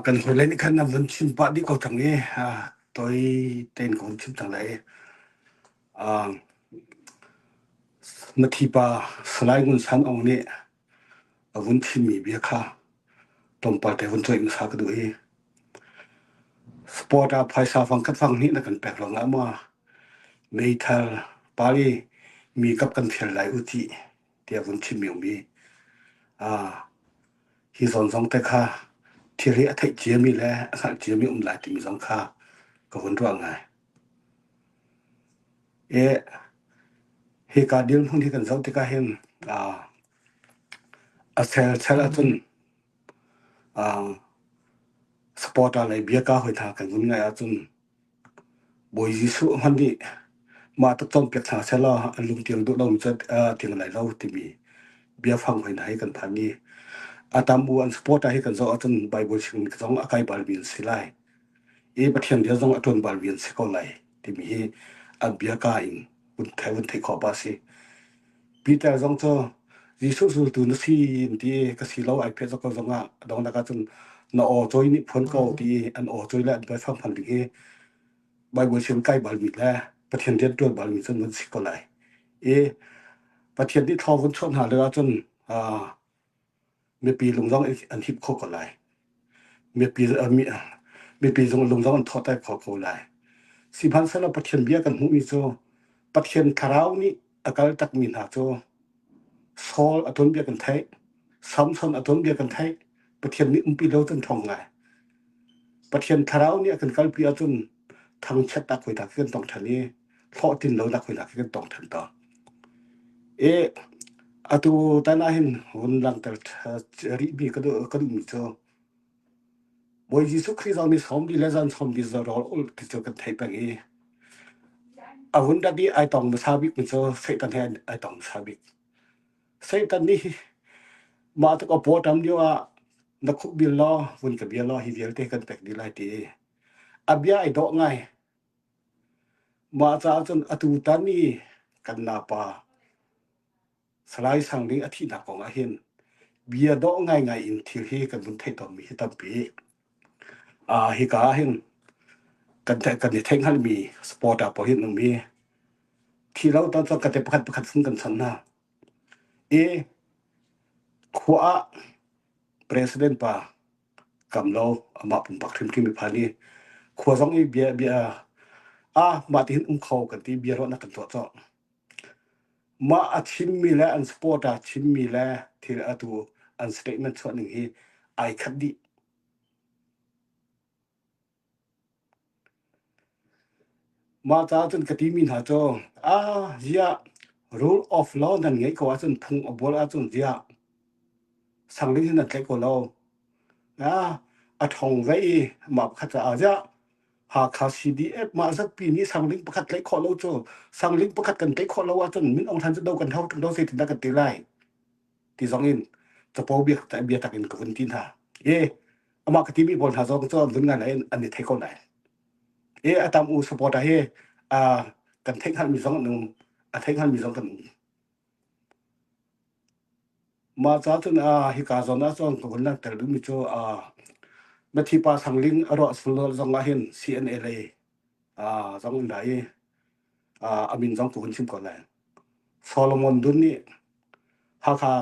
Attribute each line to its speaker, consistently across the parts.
Speaker 1: kan hmuilei nih khan nan vun chim pah dih ko cang i toi tein ka hun chim cang lai. Mathipa Salai Ngun San Aung nih a vun chimmi bia kha tlawmpal te vun cuai hmasa ka duh i sport ah phaisa fang kan fang hnih na kan pek ruangah maw meithal pali mi kap kan fial lai u ti tiah vun chim iomi a hi zawn zong te kha thil hi a theih ciami le a hngalh ciami um lai timi zong kha ka hun ruah ngai e hi ka dil hmun hi kan zoh tikah hin a a sel sel ahcun a sport a lei bia ka hoi tha kan vun ngai ahcun Bawi Jesuh hmanh nih mah tuk cawnpiak hna sehla an lungtial duh lomi cu tiang an ai lo timi biafang hoi hna hi kan phan i a tam u an supporter hi kan zoh ahcun Baibal chimmi zong a kai balmi an si lai i Pathian bia zong a ṭuan balmi an si ko lai timi hi an bia kaa in vun thei vun theih khawh awk a si. Peter zong cu Jesuh zultu na si an ti ka si lo ai phe zok ko zong ah dong nak ah cun na aw choi nih phuan ko ti an aw choi le an bai sang phan ding hi Bible sin kai bal mi le Pathian rian tuan bal mi cun van si ko lai i Pathian nih thlaw vun chuah hna le ah cun mipi lungdong an hip kho ko lai. Mipi, mipi lungdong an thawtai kho ko lai. Sihmanhsehlaw Pathian bia kan hmuhmi cu Pathian thlarau nih a kal takmi hna cu Saul a tuanbia kan theih, Samson a tuanbia kan theih, Pathian nih umpi lo can thawng ngai. Pathian thlarau nih a kan kalpi ahcun thangchiatnak hoi dak khi kan tong ṭhan i hlawhtlin lonak hoi dak khi kan tong ṭhan to. I atu tan ah hin hun langhter rihmi ka duhmi cu Bawi Jesuh Khrih zong nih sawm bi le zan sawm bi zarawl ul ti cu kan thei peng i a hun dabi ai tong hmasa bik mi cu Satan he ai tong hmasa bik. Satan nih mah tuk a pawtam lio ah na khuk bil law vun ka bia law hi vialte kan pek dih lai ti a bia ai dawh ngai. Mah caah cun atu tan i kan napa Salai Sang nih a thihnak kong ah hin bia dawh ngaingai in thil hi kan vun theih tawnmi hi tampi. Uh, hika ah hin kan, kan i theihngalmi sport ah poh hin um i thi lo tan cun kate pakhat pakhat fun kan san hna. E, khua ah president pa kam lo amah pumpak hrimhrim mi phan i khua zong i bia bia ah mah ti hin um kho kan ti bia ruahnak kan tuah cawk mah a thimmi le an support a thimmi le thil atu an statement chuah ning hi ai khat dih Mah caah cun ka timi hna cu, "Ah ziah rule of law nan ngeih ko ahcun phung a bual ahcun ziah sangding hin nan tlaih ko lo. A ṭhawng ve i mah pakhat caah ziah Hakha CDF mah zatpi nih sangding pakhat tlaih khawh lo cu sangding pakhat kan tlaih khawh lo ahcun Min Aung Hlaing cu do kan hau ṭung lo zeitindah kan ti lai?" ti zongin capo bia bia tak in ka hun ti hna e amah ka timi pawl hna zong cu nun ngan lai an ni thei ko lai e atam u support a hi a kan theih hal mi zong nu a theih hal mi zong kan ma cha chun a hi ka zon a chon ko na tel mi chu a ma thi pa sang ling aro sulol zong a hin cna lei a zong dai a min zong cu hun chim ko lai Solomon Dun nih Hakha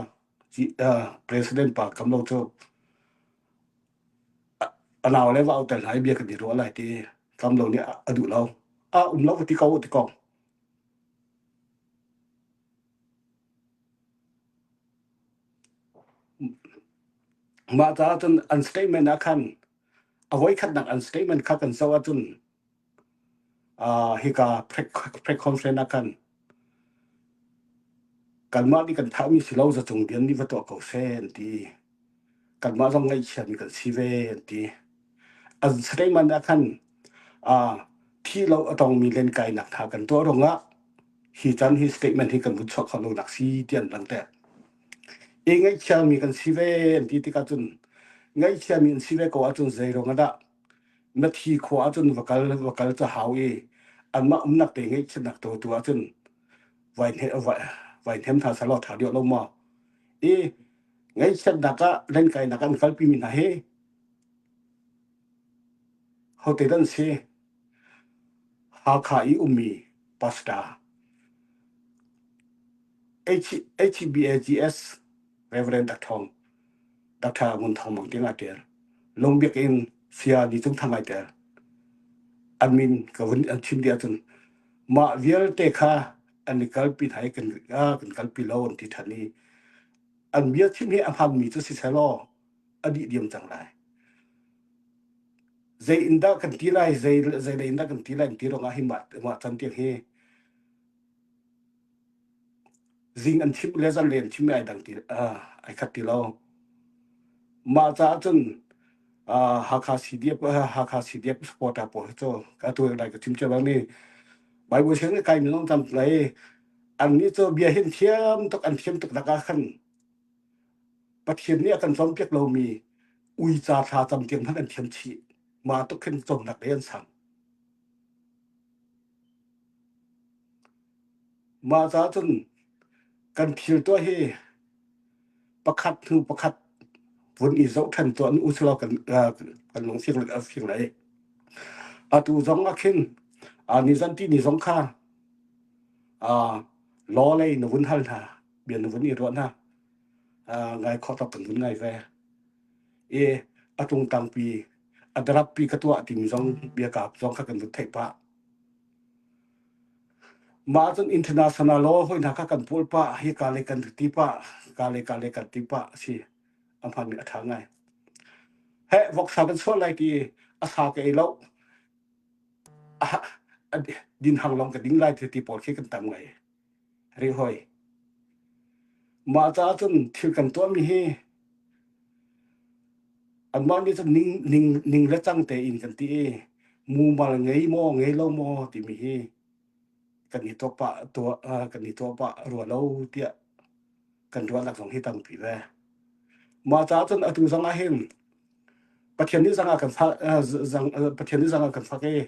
Speaker 1: president pa kam lo cu a nau le va auter hna i bia kan i ruah lai ti kam lo nih a duh lo a um lo ti ko ti ko mah caah cun an statement ah khan a voi khat nak an statement kha kan zoh ahcun hika preconference ah khan kanmah nih kan thahmi si lo zacung dian nih va tuah ko seh an ti kanmah zong ngaihchiami kan si ve an ti an sleiman ah khan thi lo a tongmi lenkainak tha kan tuah rungah hi chan hi statement hi kan vun chuak kho lonak si ti an lang te e ngaihchiami kan si ve an ti tikah cun ngaihchiami an si ve ko ahcun zeirong ah dah na thi khua ahcun va kal va kal ca hau i anmah umnak te ngeihchinak to tu ahcun vai ne vai nem tha salo tha dio lo mo i ngeihchiatnak ah lenkainak an kalpi mi hna hi hote dan si Hakha i ummi pastor HBAGS Reverend Dr. Dr. Ngun Thang Mang tiang a ṭer. Lung biak in sia ni cung thang ai tel. An min ka hun an chim dia cun mah vialte kha an i kalpi thai kan kan kalpi lo an ti ṭhan i an bia chim hi a hmangmi cu si selaw a dih diam cang lai. Zei in dah kan ti lai, zei zei in dah kan ti lai ti rong ah hi mah mah can tiang hi zing an thim le zan rian thim ai dang ti ai khat ti lo mah caah cun Hakha CDF Hakha CDF supporter pawl hi cu ka tu dai ka chim che bang ni Bible siang kai mi long tam lai an ni cho bia hin thiam tuk an thiam tuk da ka khan pathian ni kan chom piak lo mi ui cha tha tam tiang han an thiam chi ma tuk hin chom nak le an sang Mah caah cun kan thil tuah hi pakhat hnu pakhat vun i zoh ṭhan tuah u silo kan kan lung fing a fing lai. Atu zong ah khin ni zanti ni zong kha law lei na vun hal hna, bia na vun i ruah hna, ngai khawh tak kan vun ngai ve. I a ṭungtang pi a darappi ka tuah timi zong bia kaap zong kha kan vun theih pah ma cun international law hoi hna kha kan pul pa hi ka le kan ti pa ka le ka le kan ti pa si amhan mi atha ngai he voksa kan sual lai ti asa ke ei lo din hang long ka ding lai ti pawl khi kan tam ngai ri hoi. Mah caah cun thil kan tuahmi hi anmah nih cun ning ning ning le cang tein kan ti i mumal ngei maw ngei lo maw timi hi kan i tuah pah tuah uh, kan i tuah pah rua lo tiah kan ruahnak zong hi tampi ve mah caah cun atu zong ah hin pathian nih zangah kan sak uh, zang, uh, pathian nih zangah kan sak i